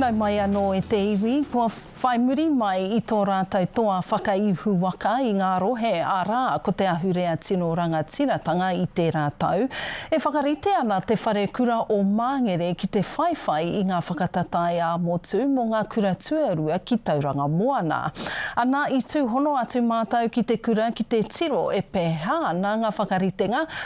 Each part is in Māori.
Nau mai anō e te iwi, kua whai muri mai i tō rātou toa whakaihu waka i ngā rohe, arā, ko te ahurea tino rangatiratanga i tērā tau. E whakarite ana te wharekura o Māngere ki te whaiwhai i ngā whakatatae ā-motu mō ngā kura tuarua ki Tauranga Moana. Ana i tūhono atu mātou ki te kura ki te tiro e pēhea ana ngā whakaritenga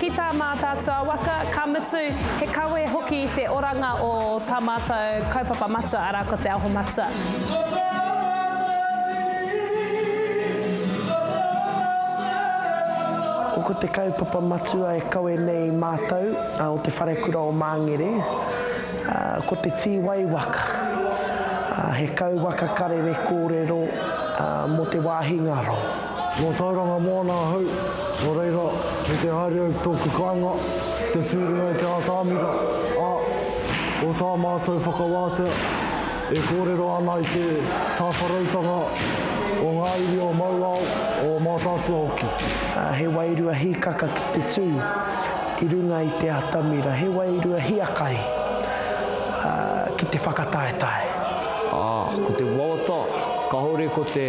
Ki tā Mātaatua waka, ka mutu, he kawe hoki te oranga o tā mātou kaupapa matua, arā, ko Te Aho Matua. Ko te kaupapa matua e kawe nei mātou o Te Wharekura o Māngere, ko te tīwai waka. He kauwaka karere kōrero mō te wāhi ngaro. Nō Tauranga moana ahau, nō reira, me te haere au ki tōku kāinga, te tū runga i te ātamira, ā, ko tā mātou whakawātea, e kōrero ana i te tāwharautanga o ngā iwi o Mauao, o Mātaatua hoki. He wairua hīkaka ki te tū i runga i te atamira, he wairua hiakai ki te whakataetae. Ā, ko te wawata, kāore ko te.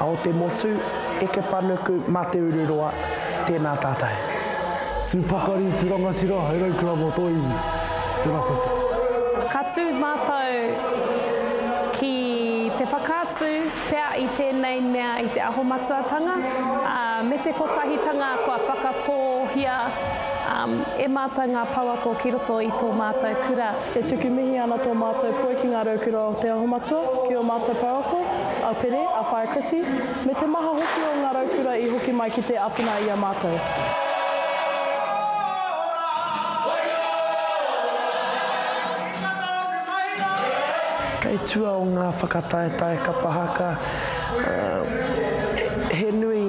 A o te motu, Eke Panuku ma Te Ururoa, tēnā tātou. Tū pakari, tū rangatira, hai raukura mō tō iwi. Tēnā koutou. Ka tū mātou ki te whakaatu pea i tēnei mea i te Aho Matuatanga, ā, me te kotahitanga kua whakatōhia e mātou ngā pouako ki roto i tō mātou kura. E tuku mihi ana tō mātou poi ki ngā raukura o te Aho Matua, ki ō mātou pouako. a Pere, a Whaea Chrissy, me te maha hoki o ngā raukura i hoki mai ki te awhina i a mātou. Kei tua o ngā whakataetae kapa haka, he nui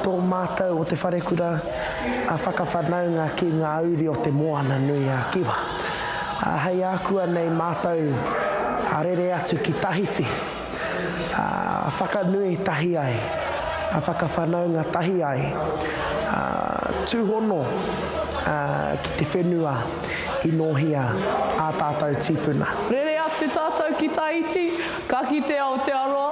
tō mātou o Te Wharekura whakawhanaunga ki ngā uri o Te Moana nui a Kiwa. Hei ākuanei mātou rere atu ki Tahiti. whakanui tahi ai, whakawhanaunga tahi ai, tūhono ki te whenua i nōhia ā tātou tīpuna. Rere atu tātou ki Tahiti, ka kite Aotearoa.